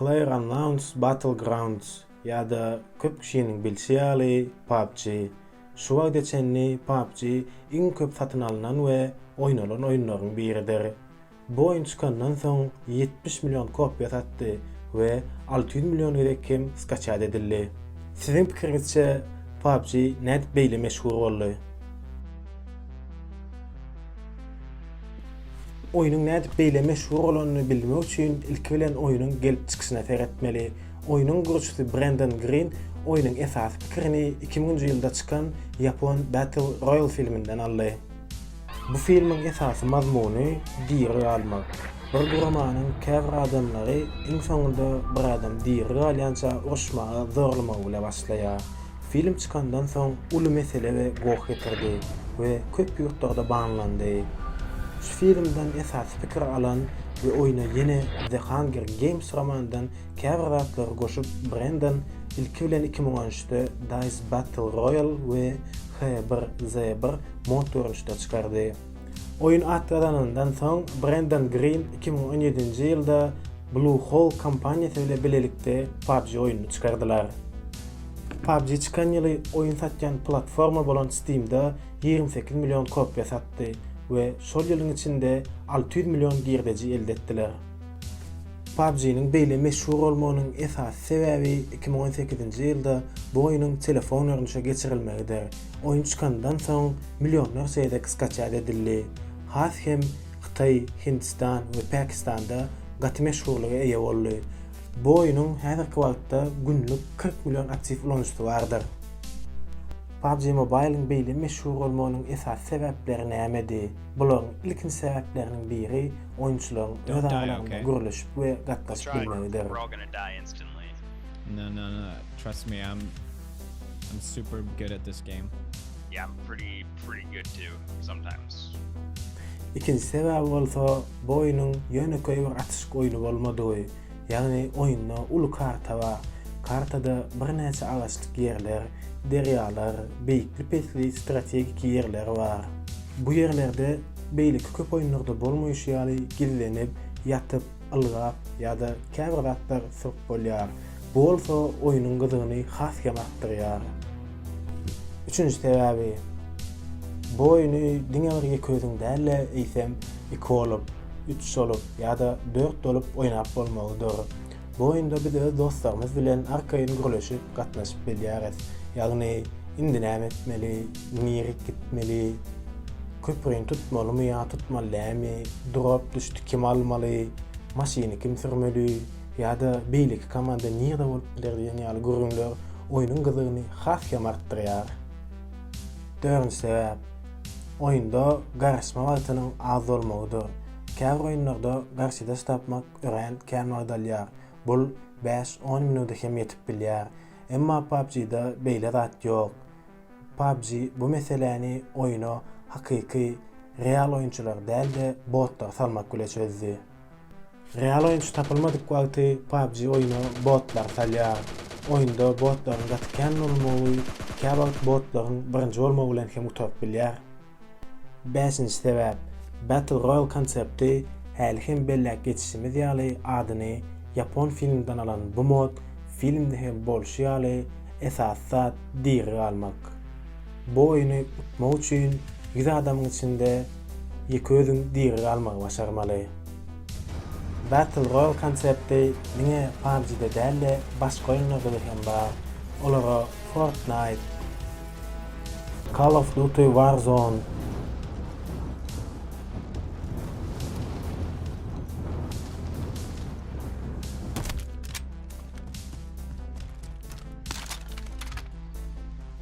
PlayerUnknown's Battlegrounds ýa-da köp kişiniň bilşi ýaly PUBG, şu wagta çenli PUBG iň köp satyn alnan we oýnalan oýunlaryň biridir. Bu oýun çykandan soň ýetmiş million kopiýa satdy we alty ýüz million gezek hem skaçýat edildi. Siziň pikiriňizçe PUBG nädip beýle meşhur boldy? Oýnuň nädip beýle meşhur bolanyny bilmek üçin ilki bilen oýnuň gelip çykyşyna seretmeli. Oýnuň gurujysy Brendon Grin oýnuň esasy pikirini iki müňünji ýylda çykan ýapon Battle Royale filminden aldy. Bu filmiň esasy mazmuny diri galmak. Bir guramanyň käbir adamlary iň soňunda bir adam diri galýança uruşmaga zorlamagy bile başlaýar. Film çykandan soň uly mesele we goh getirdi we köp ýurtlarda banlandy. Şu filmden esasy pikir alan we oýna ýene The Hunger Games romandan käbir zatlary goşup Brendan ilki bilen iki müň on üçde Dice Battle Royale we H1Z1 mod görnüşde çykardy. Oýun at gazanandan soň Brendan Green iki müň on ýedinji ýylda Bluehole kompaniýasy bile bilelikde PUBG oýnuny çykardylar. PUBG çykan ýyly oýun satýan platforma bolan Steam-de ýigrimi sekiz million kopiýa satdy we şol ýylyň içinde alty ýüz million girdeji elde etdiler. PUBG-niň beýle meşhur bolmagynyň esasy sebäbi iki müň on sekizinji ýylda bu oýnuň telefon görnüşe geçirilmegidir. Oýun çykandan soň millionlarça gezek skaçat edildi. Has hem Hytaý, Hindistan we Pakistanda gaty meşhurlyga eýe boldy. Bu oýunyň häzirki wagtda günlük kyrk million aktiw ulanyjysy bardyr. PUBG Mobile-iň beýle meşhur bolmagynyň esasy sebäpleri nämedi? Bularyň ilkinji sebäpleriniň biri oýunçylaryň öz aralarynda gürleşip we gatnaşyp bilmegidir. Ikinji sebäbi bolsa, Bu oýnuň ýönekeý bir atyşyk oýny bolmadygy, ýagny oýunda uly karta bar. Kartada birnäçe agaçlyk ýerler, derýalar, beýikli-pesli strategik ýerler bar. Bu ýerlerde beýleki köp oýunlarda bolmaýşy ýaly gizlenip, ýatyp, ylgap ýa-da käbir zatlar syryp bolýar. Bu bolsa oýnuň gyzygyny has hem artdyrýar. Üçünji sebäbi, bu oýny diňe bir ýeke özüň däl-de, eýsem, iki bolup, üç bolup ýa-da dört bolup oýnap bolmagy dur. Bu oýunda biz öz dostlarymyz bilen arkaýyn gürleşip, gatnaşyp bilýäris. Ýagny, indi näme etmeli, nirek gitmeli, köprini tutmalymy ýa tutmaly dälmi, durap-düşdi kim almaly, maşyny kim sürmeli, ýa-da beýleki komanda nirde bolup biler diýen ýaly gürrüňler oýnuň gyzygyny has hem artdyrýar. Dördünji sebäp, oýunda garaşma wagtynyň az bolmagydyr. Käbir oýunlarda garşydaş tapmak örän kän wagt alýar, bul bäş-on minuda hem ýetip bilýär. Emma PUBG-da beýle zat ýok. PUBG bu meseläni oýna hakyky, real oýunçylary däl-de, botlary salmak bile çözdi. Real oýunçy tapylmadyk wagty PUBG oýuna botlar salýar. Oýunda botlaryň gaty kän bolmagy käwagt botlaryň birinji bolmagy bilen hem gutaryp bilýär. Bäşinji sebäp, Battle Royale konsepti häli hem belläp geçişimiz ýaly adyny ýapon filminden alan bu mod filmde hem bolşy ýaly esasy zat diri galmak. Bu oýny utmak üçin ýüz adamyň içinde ýeke özüň diri galmagy başarmaly. Battle Royale konsepti diňe PUBG-de däl-de başga oýunlarda hem bar. Olara Fortnite, Call of Duty Warzone,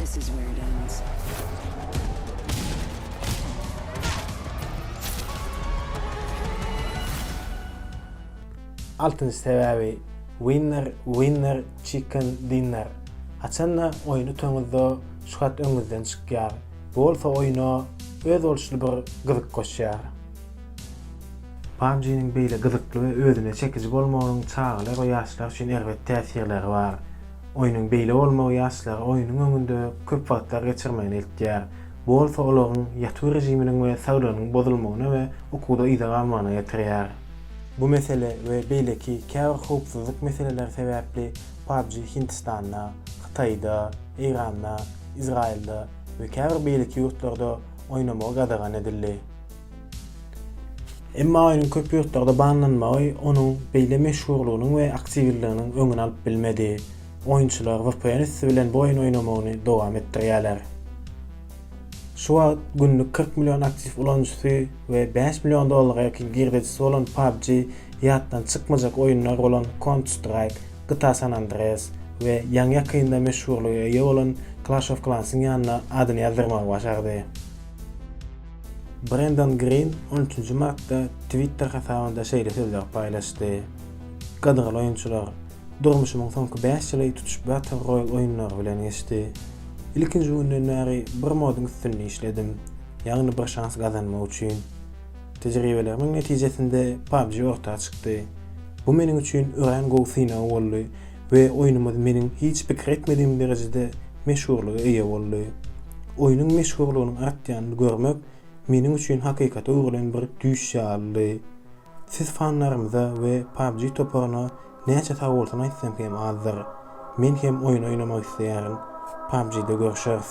This is where it ends. Altynjy sebäbi Winner Winner Chicken Dinner. Haçanda oýun utaňyzda şu hat öňüňizden çykýar. Bu bolsa oýuna öz bolşly bir gyzyk goşýar. PUBG-niň beýle gyzykly we özüne çekiji bolmagynyň çagalar we ýaşlar üçin erbet täsirleri bar. Oýnuň beýle bolmagy ýaşlara oýnuň öňünde köp wagtlar geçirmegini eltýär. Bu bolsa olaryň ýatuw režiminiň we saglygynyň bozulmagyna we ukuda yza galmagyna getirýär. Bu mesele we beýleki käbir howpsuzlyk meseleleri sebäpli PUBG Hindistanda, Hytaýda, Eýranda, Izraýylda we käbir beýleki ýurtlarda oýnamagy gadagan edildi. Emma oýnuň köp ýurtlarda banlanmagy onuň beýle meşhurlygynyň we aktiwlliginiň öňüni alyp bilmedi. Oýunçylar vpn üsti bilen bu oýny oýnamagyny dowam etdirýärler. Şu wagt günlük kyrk million aktiw ulanyjysy we bäş million dollara ýakyn girdejisi bolan PUBG ýatdan çykmajak oýunlar bolan Counter-Strike, GTA San Andreas we ýaňy-ýakynda meşhurlyga eýe bolan Clash of Clans-yň ýanyna adyny ýazdyrmagy başardy. Brendon Grin on üçünji martda Twitter hasabynda şeýle sözleri paýlaşdy, Gadyrly oýunçylar, durmuşymyň soňky bäş ýyly tutuş Battle Royale oýunlary bilen geçdi. Ilkinji günden bäri bir moduň üstünde işledim, ýagny bir şans gazanmak üçin. Tejribelerimiň netijesinde PUBG orta çykdy. Bu meniň üçin örän gowy synag boldy We oýnumyz meniň hiç pikir etmedigim derejede meşhurlyga eýe boldy. Oýnuň meşhurlygynyň artýanyny görmek meniň üçin hakykata öwrülen bir düýş ýalydy. Siz fanlarymyza we PUBG toparyna näçe sagbolsun aýtsam hem azdyr. Men hem oýun oýnamak isleýärin. PUBG-de görşeris.